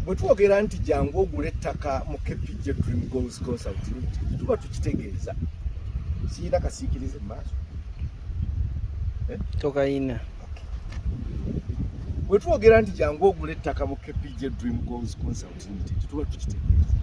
bwe twogera nti jangu ogula ettaka mu kpj dream goals consult tuba tukitegeeza siyina kasiikirize mumaaso eh? tokayina bwe twogera nti jangu ogula ettaka mu kpj dream goals consult limited tuba tukitegeeza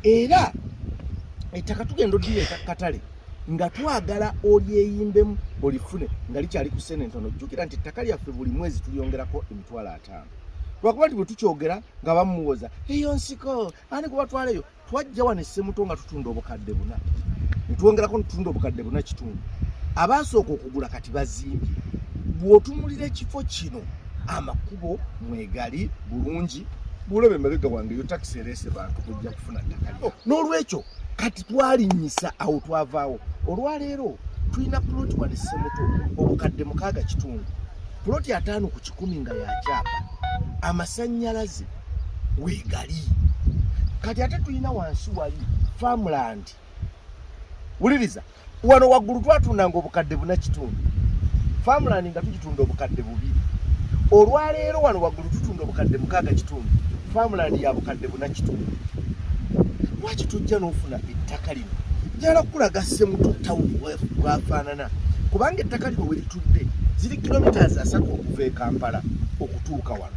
era ettaka tugenda odira etakatale nga twagala olyeyimbemu olifune nga likyali ku sente entono jjukira nti ettaka lyaffe buli mwezi tulyongerako emitwalo ate ttaano lwakuba nti bwe tukyogera nga bamuwoza eyo nsiko ani kubatwaleyo twajja wano essemuto nga tutunda obukadde buna netwongerako netutunda obukadde buna kitundu abaasooka okugula kati bazimbye bw'otumulira ekifo kino amakubo mwegali bulungi bwolaba emabega wange yo takisi ereese bantu kujja kufuna ttaka oh, n'olwekyo kati twalinnyisa awo twavaawo olwaleero tulina puloti wano essemuto obukadde mukaaga kitundu puloti ataano ku kikumi nga yakyapa amasannyalaze weegali kati ate tulina wansi wali farmland wuliriza wano waggulu twatundanga obukadde buna kitundu farmland nga tugitunda obukadde bubiri olwaleero wano waggulu tutunda obukadde mukaaga kitundu farmland ya bukadde buna kitundu lwaki tujja n'ofuna ettaka lino njala kukulaga ssemuto tawuni bwafaanana kubanga ettaka lino we litudde ziri kilomitas asatu okuva e kampala okutuuka wano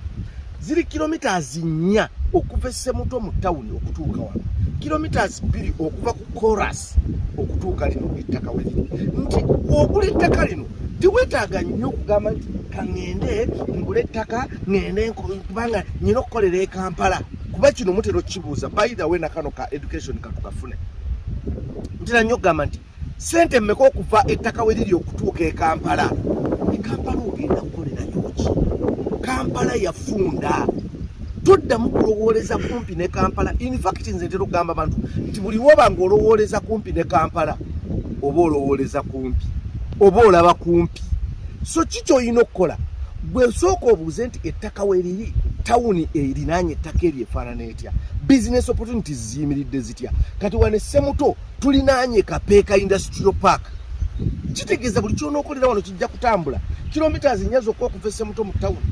ziri kilomitas nnya okuva esemuto mu tawuni okutuuka wano kilomitas bbiri okuva ku coras okutuuka lino ettaka we liri nti ogula ettaka lino tiwetaaga nnyo okugamba nti kaŋŋende ngula ettaka ŋŋende kubanga nyina okukolera e kampala kuba kino mutera okukibuuza by the way nakano ka education katukafune ntera nnyo okugamba nti sente mmeka okuva ettaka we liri okutuuka e kampala e kampala ogenda kukolerayoki kampala yafunda toddamu kulowooleza kumpi ne kampala infact nze ntera okugamba abantu nti buli woba nga olowooleza kumpi ne kampala oba olowooleza kumpi oba olaba kumpi so ki kyolina okukola gwe osooka obuuze nti ettaka weriri tawuni erinaanye ettaka eryo efaanana etya bizinesi opportunities ziyimiridde zitya kati wane semuto tulinaanye kapeeka industrial park kitegeeza buli kyonaokolera wano kijja kutambula kilometres nnya zokka okuva esemuto mu tawuni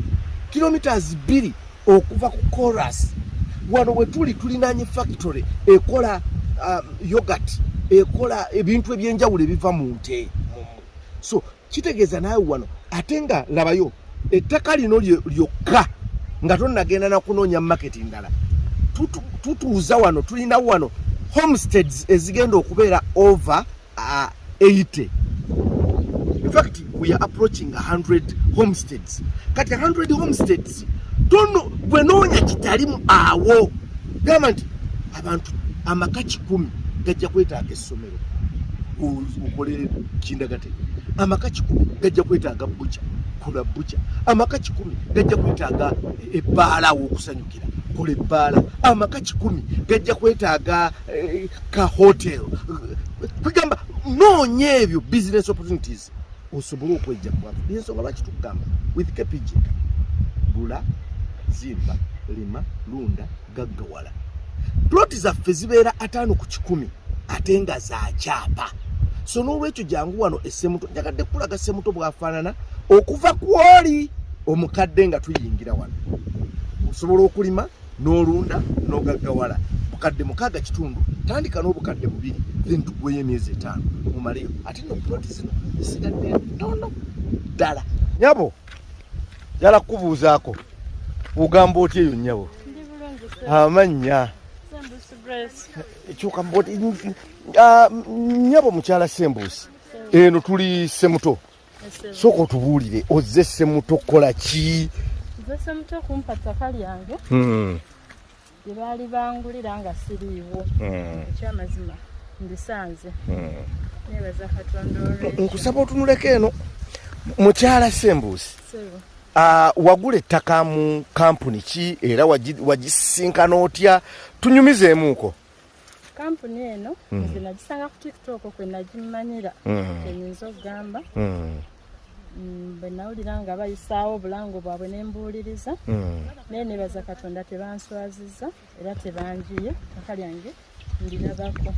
kilometres bbiri okuva ku coras wano wetuli tulinaanye factory ekola um, yogat ekola ebintu ebyenjawulo ebiva mu nte so kitegeeza naawe wano ate nga labayo ettaka lino lyokka nga tonagenda nakunoonya maketi ndala tutuuza wano tulina wano homesteads ezigenda okubeera over 80 uh, infact weare approaching 100 homesteads kati 100 homesteads tono gwe noonya kitalimu awo gamba nti abantu amaka kikumi gajja kwetaaga essomero okolere kindagate amaka kikumi gajja kwetaaga buca kola buca amaka kikumi gajja kwetaaga ebbaala awokusanyukira kola ebbaala amaka kikumi gajja kwetaaga eh, ka hotel kwegamba noonya ebyo business opportunities bwati osobole okwejja bwati yensonga lwaki tukugamba with kpg gula zimba lima lunda gaggawala ploti zaffe zibeera ataano ku kikumi ate nga zakyapa so n'olwekyo jangu wano esemuto njagadde kukulaga semuto bwafaanana okuva kwoli omukadde nga tuyingira wano osobola okulima n'olunda n'ogaggawala bukadde mukaaga kitundu tandika n'obukadde bubiri then tugweyo emyezi etaano mumaleyo ate no ploti zino zisigadde ntono ddala nyabo yala kukubuuzaako ogamba otya eyo nyabo amannya ekyuka ah, nyabo mukyala sembuusi eno tuli semuto sooka otubuulire ozze semuto kukola ki nze semuto kumpa ttaka lyange hmm. lye baali bangulira nga siriiwo hmm. ekyamazima ndisanze hmm. nebaza katonda nkusaba otunuleko eno mukyala sembuusi ah, wagula ettaka mu kampuni ki era wagisinkana otya tunyumizeemuuko kampuni eno mm. nze nagisanga ku tiktok kwe nagimanyira mm. enyinza okugamba mm. bwe nawulira nga bayisaawo obulango bwabwe ne mbuuliriza naye nebaza katonda tebanswaziza era tebanjiye kaka lyange ndilabako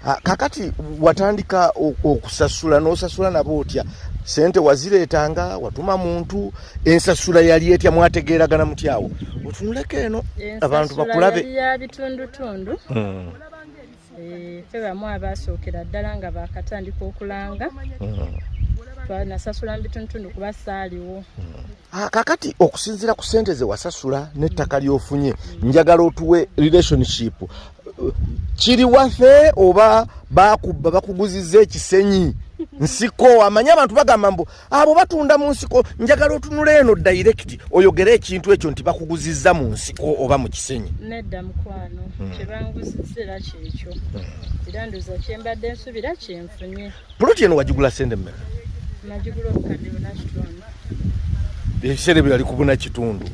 ah, kakati watandika okusasula n'osasula nabo otya sente wazireetanga watuma muntu ensasula yali etya mwategeeragana mutyawo otunuleko eno abantu bakulabe yabitundutundu hmm. eh, fe bamu abaasookera ddala nga bakatandika okulanga hmm. twanasasula mu bitundutundu kuba saaliwo hmm. ah, kakati okusinziira ku sente ze wasasula n'ettaka ly'ofunye njagala otuwe relationship kiri wafe oba bakubba bakuguziza ekisenyi nsiko amanye abantu bagamba mbu abo batunda mu nsiko njagala otunula eno direct oyogere ekintu ekyo nti bakuguzizza mu nsiko oba mu kisenyi nedda mukwano hmm. kyebanguzizira kyekyo hmm. era ndoza kyembadde nsubira kyenfunye puloti eno wagigula sente mmeka nagigula obukadde bunakitundu ebiseera ebyo yali kubuna kitundu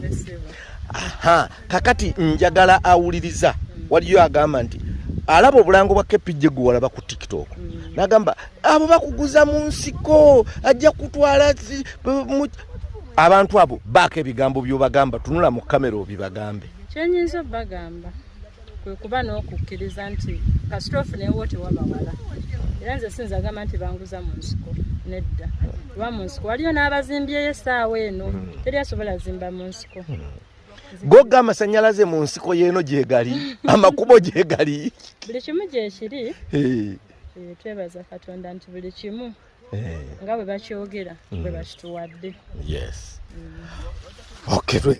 aha kakati njagala awuliriza hmm. waliyo agamba nti alaba obulango bwa kepijje gwewalaba ku tiktok mm. nagamba abo bakuguza mu nsiko ajja kutwala abantu abo baako ebigambo byobagamba tunula mu kamera obibagambe kyenyinza obagamba kwekuba n'okukkiriza nti kasita ofunewo tewabawala era nze sinza agamba nti banguza mu nsiko nedda kuba mu nsiko waliyo n'abazimbyeyo essaawa eno hmm. teri asobola zimba mu nsiko hmm. gogga amasanyalaze mu nsiko yeeno gyegali amakubo gyegali buli kimu gyekiri Eh, twebaza katonda nti buli kimu eh. nga bwe bakyogera bwe mm. bakituwadde yes mm. okay